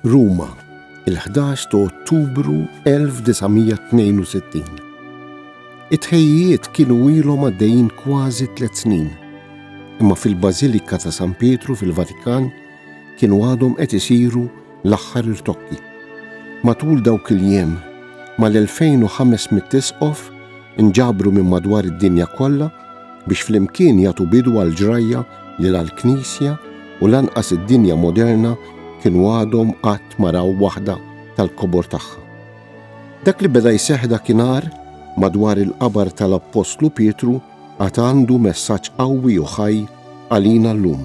Ruma, il-11 ta' Ottubru 1962. It-ħejjiet kienu ilhom għaddejjin kważi tliet snin, imma fil-Bażilika ta' San Pietru fil-Vatikan kienu għadhom qed isiru L-aħħar irtokki. Matul dawk il-jiem, mal-2,500 isqof inġabru minn madwar id-dinja kollha biex flimkien jagħtu bidu għal ġrajja li la l-Knisja u lanqas id-dinja moderna kienu għadhom qatt ma raw waħda tal-kobor tagħha. Dak li beda jseħħ dakinhar madwar il-qabar tal-Appostlu Pietru għad għandu messaġġ qawwi u ħaj għalina llum.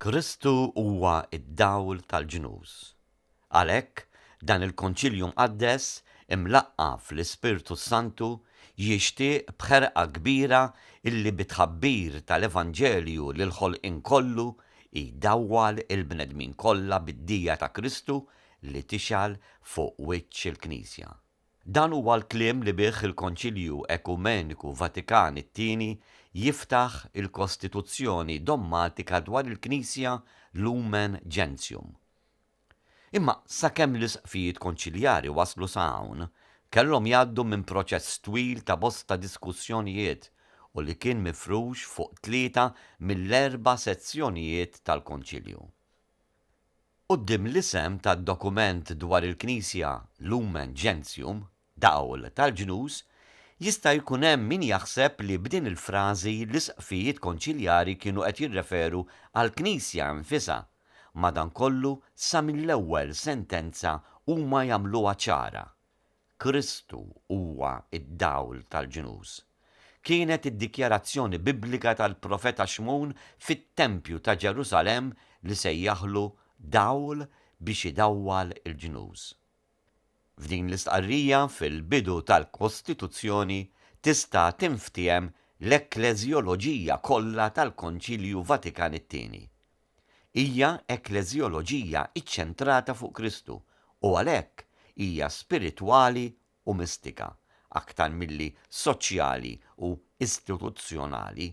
Kristu huwa d-dawl tal-ġnus. Għalhekk, dan il-Konċilju Mqaddes, imlaqqa' fl-Ispirtu s-Santu, jixtieq b'ħerqa kbira illi bit-tħabbir tal-Evanġelju l-ħolqien kollu jdawwal il-bnedmin kollha bid-dija ta' Kristu li tixgħel fuq wiċċ il-Knisja. Dan huwa l-kliem li bih il-Konċilju Ekumeniku Vatikan it-Tieni jiftaħ il-Kostituzzjoni Dommatika dwar il-Knisja Lumen Gentium. Imma sakemm l-Isqfijiet Konċiljari waslu sa hawn, kellhom jgħaddu minn proċess twil ta' bosta diskussjonijiet u li kien mifrux fuq tlieta mill-erba' sezzjonijiet tal-Konċilju. Quddiem l-isem tad-dokument dwar il-Knisja Lumen Gentium, Dawl tal-Ġnus, jista' jkun hemm min jaħseb li b'din il-frażi l-Isqfijiet Konċiljari kienu qed jirreferu għall-Knisja nfisha, madankollu sa mill-ewwel sentenza huma jagħmluha ċara, Kristu huwa d-dawl tal-ġnus. Kienet id-dikjarazzjoni Biblika tal-profeta Xmun fit-tempju ta' Ġerusalemm li sejjaħlu dawl biex idawwal il-ġnus. F'din l-istqarrija fil-bidu tal-Kostituzzjoni tista' tinftiehem l-ekkleżjoloġija kollha tal-Konċilju Vatikan it-Tieni. Hija ekkleżjoloġija ċċentrata fuq Kristu u għalhekk hija spiritwali u mistika, aktar milli soċjali u istituzzjonali.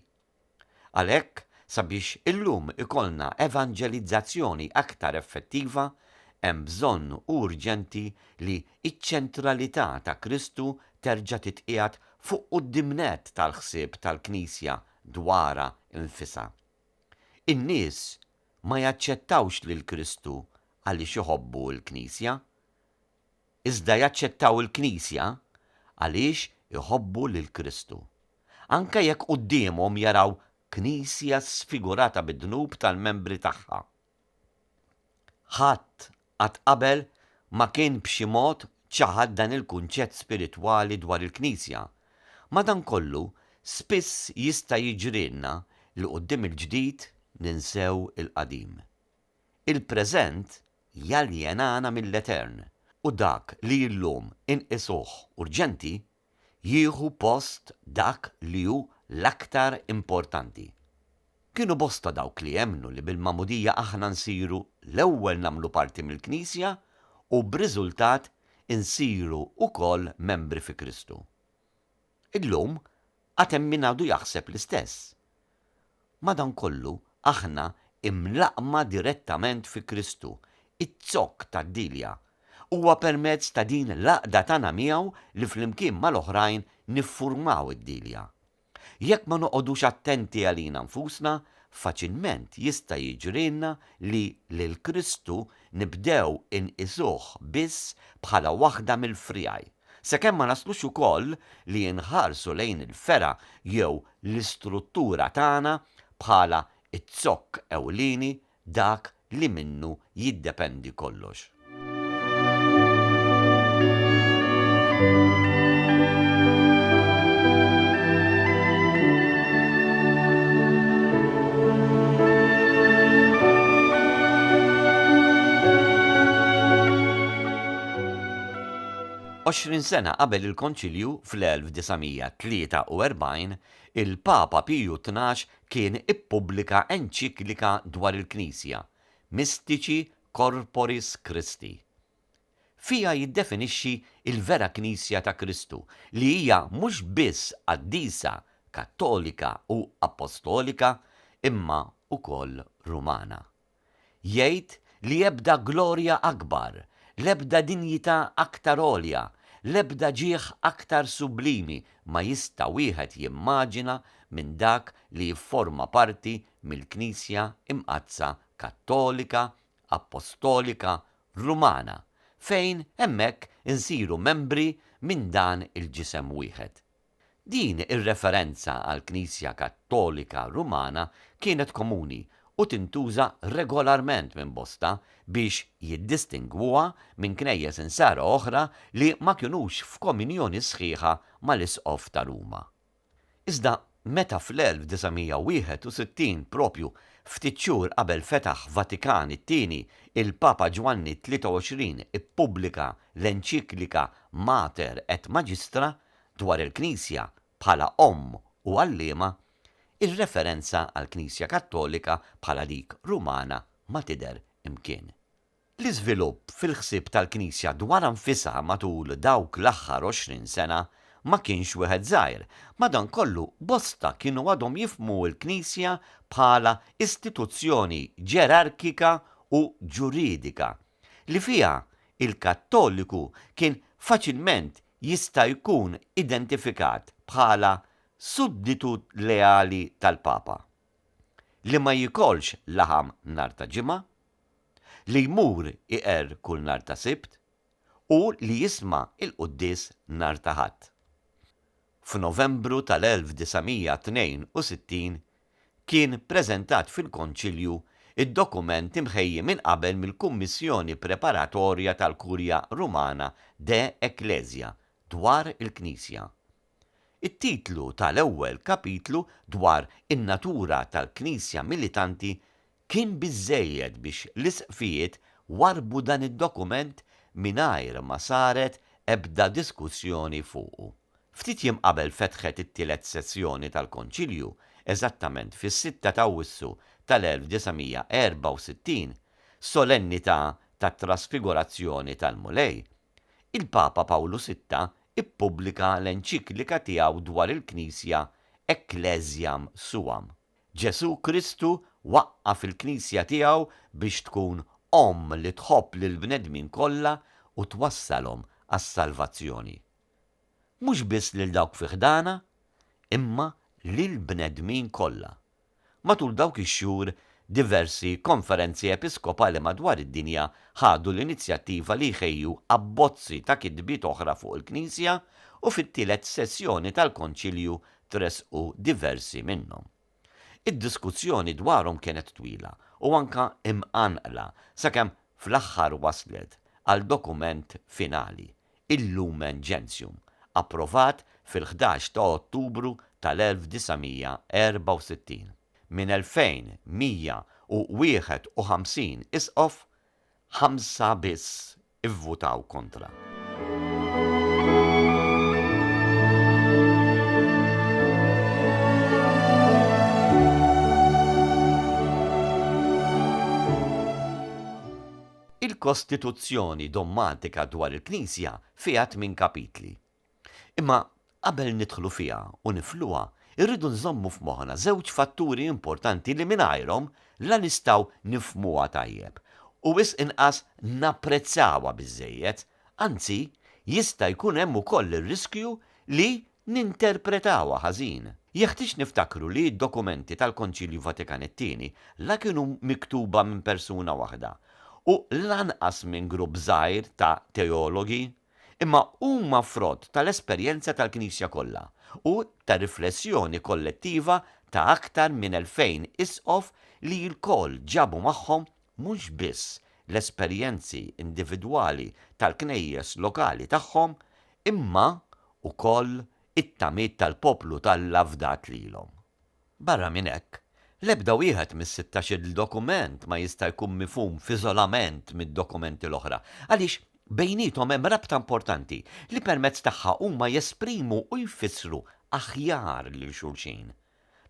Għalhekk, sabiex illum ikollna evanġelizzazzjoni aktar effettiva, hemm bżonn urġenti li ċ-ċentralità ta' Kristu terġa' titqiegħed fuq quddiemnett tal-ħsieb tal-Knisja dwarha nfisha. In-nies ma jaċċettawx lil Kristu għaliex iħobbu l-Knisja, iżda jaċċettaw il-Knisja għaliex iħobbu lil Kristu. Anke jekk quddiemhom jaraw Knisja sfigurata bid-dnub tal-membri tagħha, Ħadd qatt qabel ma kien b'xi mod ċaħad dan il-kunċett spiritwali dwar il-Knisja. Madankollu, spiss jista' jiġrilna li quddiem il-ġdid ninsew il-qadim. Il-preżent jaljenana mill-etern, u dak li llum inqisuh urġenti jieħu post dak li hu l-aktar importanti. Kienu bosta dawk li emmnu li bil-Magħmudija aħna nsiru l-ewwel nagħmlu parti mill-Knisja u b'riżultat insiru wkoll membri fi Kristu. Illum għad hemm min għadu jaħseb l-istess. Madankollu, aħna imlaqqma direttament fi Kristu, iz-zokk tad-dielja. Huwa permezz ta' din l-għaqda tagħna miegħu li flimkien mal-oħrajn niffurmaw id-dielja. Jekk ma noqogħdux attenti għalina nfusna, faċilment jista' jiġrilna li lil Kristu nibdew inqisuh biss bħala waħda mill-friegħi, sakemm ma naslux ukoll li inħarsu lejn il-fergħa jew l-istruttura tagħna bħala z-zokk ewlieni, dak li minnu jiddependi kollox. Għoxrin sena qabel il-Konċilju fl-1943, il-Papa Piju Tnax kien ippubblika enċiklika dwar il-Knisja, Mystici Corporis Christi. Fiha jiddefinixxi l-vera Knisja ta' Kristu li hija mhux biss qaddisa, kattolika u appostolika imma wkoll Rumana. Jgħid li ebda glorja akbar, l-ebda dinjità aktar għolja, l-ebda ġieħ aktar sublimi ma jista' wieħed jimmaġina minn dak li jifforma parti mill-Knisja Imqaddsa Kattolika, Appostolika Rumana, fejn hemmhekk insiru membri minn dan il-ġisem wieħed. Din ir-referenza għall-Knisja Kattolika Rumana kienet komuni u tintuża regolarment minn bosta biex jiddistingwuha minn knejjes insara oħra li ma kinux f'kominjoni sħiħa mal-Isqof ta' Ruma. Iżda meta fl-1961, proprju ftit xhur qabel fetaħ Vatikan it-Tieni, il-Papa Ġwanni t-23 ippubblika l-enċiklika Mater et Magistra dwar il-Knisja bħala Omm u Għalliema, ir-referenza għall-Knisja Kattolika bħala dik Rumana ma tidher imkien. L-iżvilupp fil-ħsieb tal-Knisja dwarha nfisha matul dawk l-aħħar għoxrin sena ma kienx wieħed żgħir, madankollu bosta kienu għadhom jifhmu l-Knisja bħala istituzzjoni ġerarkika u ġuridika, li fiha l-Kattoliku kien faċilment jista' jkun identifikat bħala sudditu leali tal-Papa, li ma jiekolx laħam nhar ta' Ġimgħa. li jmur iqerr kull nhar ta' Sibt u li jisma' l-quddies nhar ta' Ħadd. F'Novembru tal-1962 kien preżentat fil-Konċilju d-dokument imħejji minn qabel mill-Kummissjoni Preparatorja tal-Kurja Rumana De Ecclesia dwar il-Knisja, It-titlu ta' l-ewwel kapitlu dwar in-natura tal-Knisja militanti kien biżżejjed biex l-Isqfijiet warrbu dan id-dokument mingħajr ma saret ebda diskussjoni fuqu. Ftit jiem qabel fetħet it-tielet sessjoni tal-Konċilju, eżattament fis-sitta ta' Awwissu ta' l-1964, solennità tat-Trasfigurazzjoni tal-Mulej, il-Papa Pawlu Sitta ppubblika l-enċiklika tiegħu dwar il-Knisja Ecclesiam Suam. Ġesù Kristu waqqaf il-Knisja tiegħu biex tkun omm li tħobb lill-bnedmin kollha u twassalhom għas-salvazzjoni. Mhux biss lil dawk fi ħdanha, imma lill-bnedmin kollha. Matul dawk ix-xhur, diversi Konferenzi Episkopali madwar id-dinja ħadu l-inizjattiva li jħejju abbozzi ta' kitbiet oħra fuq il-Knisja u fit-tielet sessjoni tal-Konċilju tressqu diversi minnhom. Id-diskussjoni dwarhom kienet twila u anke imqanqla sakemm fl-aħħar waslet għal dokument finali. il-Lumen Gentium, approvat fil-ħdax ta' Ottubru tal-1964 minn 2,151 Isqof, ħamsa biss ivvutaw kontra. Il-Kostituzzjoni dogmatika dwar il-Knisja fiha tmien kapitli. Imma qabel nidħlu fiha u nifluha, irridu nżommu f'moħħna żewġ fatturi importanti li mingħajrhom la nistgħu nifhmuha tajjeb u wisq inqas napprezzawha biżżejjed, anzi jista' jkun hemm ukoll ir-riskju li ninterpretawha ħażin. Jeħtieġ niftakru li d-dokumenti tal-Konċilju Vatikan it-Tieni la kienu miktuba minn persuna waħda u lanqas minn grupp żgħir ta' teologi, imma huma frott tal-esperjenza tal-Knisja kollha u ta' riflessjoni kollettiva ta' aktar minn elfejn Isqof li lkoll ġabu magħhom mhux biss l-esperjenzi individwali tal-Knejjes lokali tagħhom imma wkoll it-tamiet tal-poplu t'Alla fdat lilhom. Barra minn hekk, l-ebda wieħed mis-sittax-il dokument ma jista' jkun mifhum f'iżolament mid-dokumenti l-oħra, għaliex bejniethom hemm rabta importanti li permezz tagħha huma jesprimu u jfissru aħjar lil xulxin.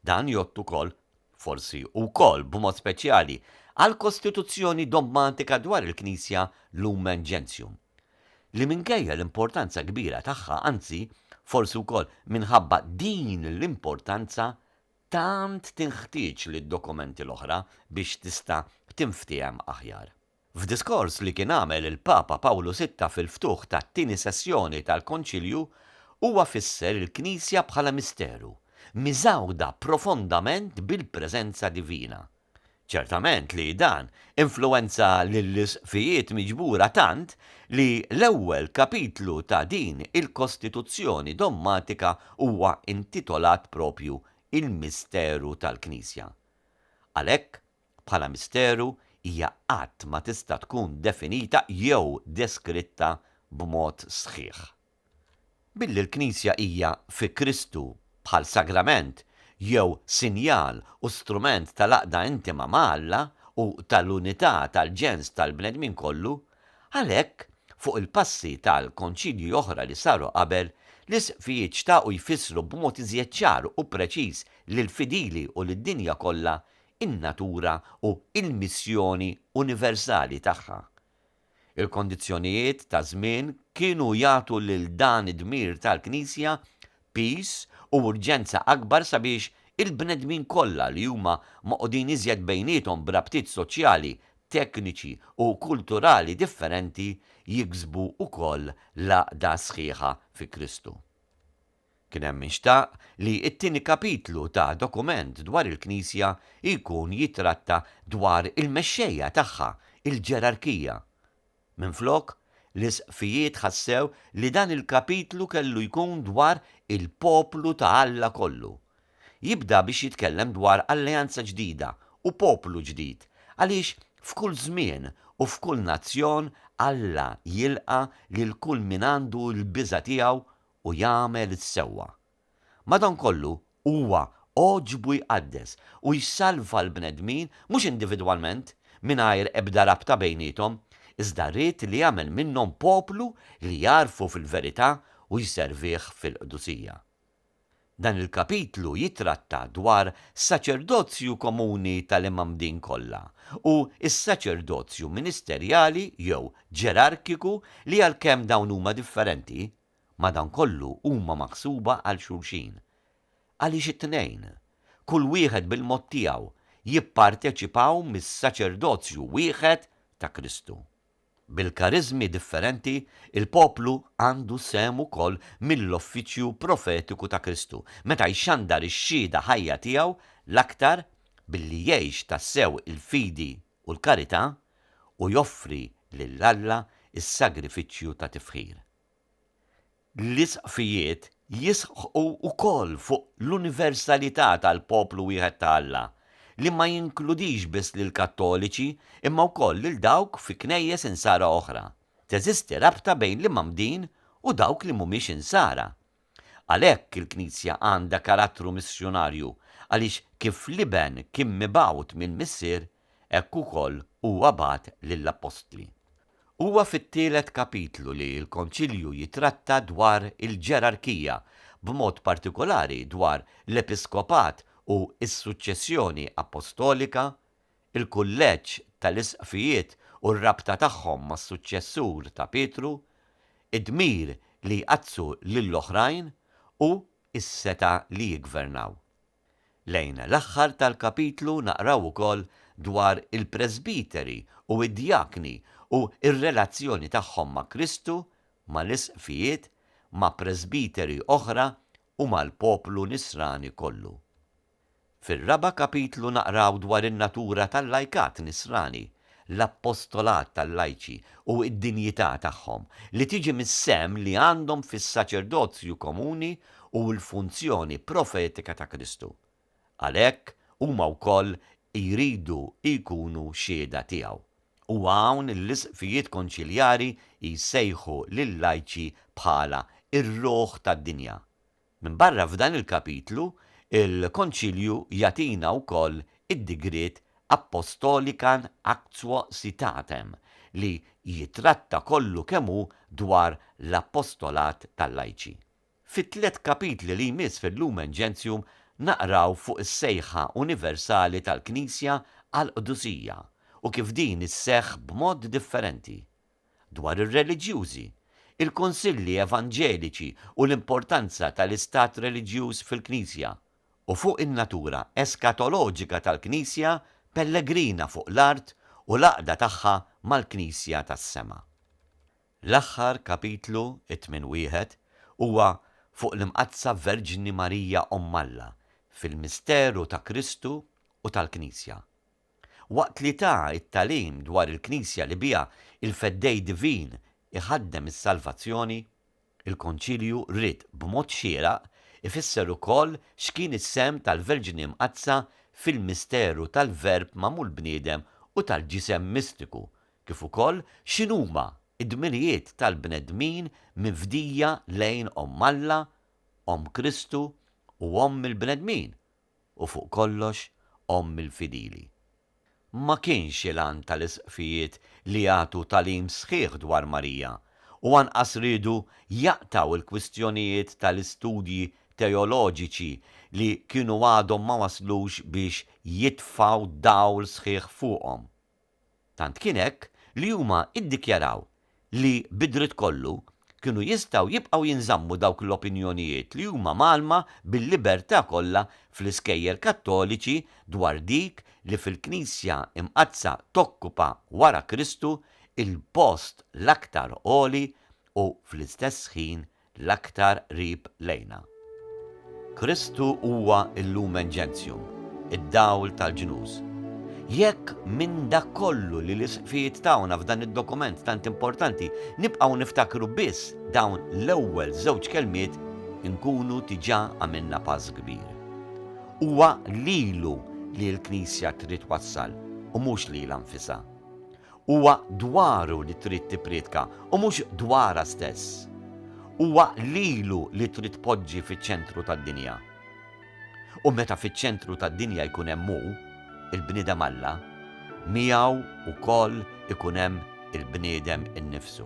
Dan jgħodd ukoll, forsi wkoll b'mod speċjali, għall-kostituzzjoni dogmatika dwar il-Knisja Lumen Gentium, li minkejja l-importanza kbira tagħha, anzi, forsi wkoll minħabba din l-importanza, tant tinħtieġ lid-dokumenti l-oħra biex tista' tinftiehem aħjar. F'diskors li kien għamel il-Papa Pawlu Sitta fil-ftuħ tat-tieni sessjoni tal-Konċilju, huwa fisser il-Knisja bħala misteru, miżgħuda profondament bil-preżenza divina. Ċertament li dan influwenza lill-Isqfijiet miġbura tant li l-ewwel kapitlu ta' din il-Kostituzzjoni dommatika huwa intitolat propju Il-Misteru tal-Knisja. Għalhekk, bħala misteru hija qatt ma tista' tkun definita jew deskritta b'mod sħiħ. Billi l-Knisja hija fi Kristu bħal sagrament jew sinjal u strument tal-għaqda intima ma' Alla u tal-unità tal-ġens tal-bnedmin kollu, għalhekk, fuq il-passi tal-Konċilji oħra li saru qabel, l-Isqfijiet xtaqu jfissru b'mod iżjed ċar u preċiż lill-fidili u lid-dinja kollha in-natura u l-missjoni universali tagħha. Il-kondizzjonijiet taż-żmien kienu jagħtu lil dan id-dmir tal-Knisja piż u urġenza akbar sabiex il-bnedmin kollha li huma magħqudin iżjed bejniethom b'rabtiet soċjali, tekniċi u kulturali differenti jiksbu wkoll l-għaqda sħiħa fi Kristu. Kien hemm min xtaq li t-tieni kapitlu ta' dokument dwar il-Knisja jkun jittratta dwar il-mexxejja tagħha, il-ġerarkija. Minflok, l-Isqfijiet ħassew li dan il-kapitlu kellu jkun dwar il-poplu ta' Alla kollu. Jibda biex jitkellem dwar alleanza ġdida u poplu ġdid, għaliex f'kull żmien u f'kull nazzjon Alla jilqa' lil kull min għandu l-biża' tiegħu u jagħmel is-sewwa. Madankollu, huwa għoġbu jqaddes u jsalva l-bnedmin mhux individwalment, mingħajr ebda rabta bejniethom, iżda ried li jagħmel minnhom poplu li jagħrfu fil-verità u jservih fil-qdusija. Dan il-kapitlu jittratta dwar saċerdozju komuni tal-imgħammdin kollha u s-saċerdozju ministerjali jew ġerarkiku li għalkemm dawn huma differenti, madankollu huma maħsuba għal xulxin. Għaliex it-tnejn, kull wieħed bil-mod tiegħu, jipparteċipaw mis-saċerdozju wieħed ta' Kristu? Bil-kariżmi differenti, il-poplu għandu sehem ukoll mill-offiċju profetiku ta' Kristu, meta jxandar ix-xhieda ħajja tiegħu l-aktar billi jgħix tassew il-fidi u l-karità u joffri lil Alla s-sagrifiċċju ta' tifħir. L-Isqfijiet jisħqu wkoll fuq l-universalità tal-poplu wieħed ta' Alla, li ma jinkludix biss lill-Kattoliċi imma wkoll lil dawk fi Knejjes Insara oħra. Teżisti rabta bejn l-Imgħammdin u dawk li mhumiex Insara. Għalhekk il-Knisja għandha karattru missjunarju għaliex kif l-Iben kien mibgħut mill-Missier, Hekk ukoll huwa bagħat lill-appostli. Huwa fit-tielet kapitlu li l-Konċilju jitratta dwar il-ġerarkija, b'mod partikolari dwar l-episkopat u s-suċċessjoni appostolika, il-kulleġġ tal-isqfijiet u r-rabta tagħhom mas-suċċessur ta' Pietru, id-dmir li jqaddsu lill-oħrajn u s-setgħa li jiggvernaw. Lejn l-aħħar tal-kapitlu naqraw ukoll dwar il-presbiteri u d-djakni u r-relazzjoni tagħhom ma' Kristu, mal-isqfijiet, ma' presbiteri oħra u mal-poplu Nisrani kollu. Fir-raba' kapitlu naqraw dwar in-natura tal-lajkat Nisrani, l-appostolat tal-lajċi u d-dinjità tagħhom, li tiġi mis-sehem li għandhom fis-saċerdozju komuni u l-funzjoni profetika ta' Kristu. Għalhekk huma wkoll jridu jkunu xhieda tiegħu. U hawn l-Isqfijiet Konċiljari jsejħu lill-lajċi bħala r-ruħ tad-dinja, Minbarra f'dan il-kapitlu, il-Konċilju jagħtina wkoll id-digriet Apostolican Actio Citatem, li jittratta kollu kemm hu dwar l-apostolat tal-lajċi. Fit-tliet kapitli li jmiss fil-Lumen Gentium naqraw fuq is-sejħa universali tal-Knisja għall-qdusija u kif din isseħħ b'mod differenti. dwar ir-reliġjużi, il-kunsilli evanġeliċi u l-importanza tal-istat reliġjuż fil-Knisja, u fuq in-natura eskatoloġika tal-Knisja pellegrina fuq l-art u l-għaqda tagħha mal-Knisja tas-sema. L-aħħar kapitlu, it-tmien wieħed, huwa fuq l-Imqaddsa Verġni Marija Omm Alla fil-misteru ta' Kristu u tal-Knisja. Waqt li ta t-tagħlim dwar il-Knisja li biha l-Feddej Divin iħaddem is-salvazzjoni, il-Konċilju ried b'mod xieraq ifisser ukoll x'kien is-sehem tal-Verġni Mqaddsa fil-misteru tal-Verb magħmul bniedem u tal-ġisem mistiku, kif ukoll x'inhuma d-dmirijiet tal-bnedmin mifdija lejn Omm Alla, Omm Kristu u Omm il-bnedmin, u fuq kollox omm il-fidili. Ma kienx il-għan tal-Isqfijiet li jagħtu tagħlim sħiħ dwar Marija u anqas riedu jaqtgħu l-kwistjonijiet tal-istudji teoloġiċi li kienu għadhom ma waslux biex jitfgħu dawl sħiħ fuqhom. Tant kien hekk li huma iddikjaraw li bid-dritt kollu kienu jistgħu jibqgħu jinżammu dawk l-opinjonijiet li huma mgħallma bil-libertà kollha fl-iskejjel Kattoliċi dwar dik li fil-Knisja Imqaddsa tokkupa wara Kristu l-post l-aktar għoli u fl-istess ħin l-aktar qrib lejna. Kristu huwa l-lumen gentium, id-dawl tal-ġnus. Jekk minn dak kollu li l-Isqfijiet tawna f'dan id-dokument tant importanti nibqgħu niftakru biss dawn l-ewwel żewġ kelmiet inkunu diġà għamilna pass kbir. Huwa lilu li l-Knisja trid twassal u mhux lilha nfisha. Huwa dwaru li trid tipprietka u mhux dwarha stess. Huwa lilu li trid tpoġġi fiċ-ċentru tad-dinja. U meta fiċ-ċentru tad-dinja jkun hemm hu, il-bniedem Alla, miegħu wkoll ikun hemm il-bniedem innifsu.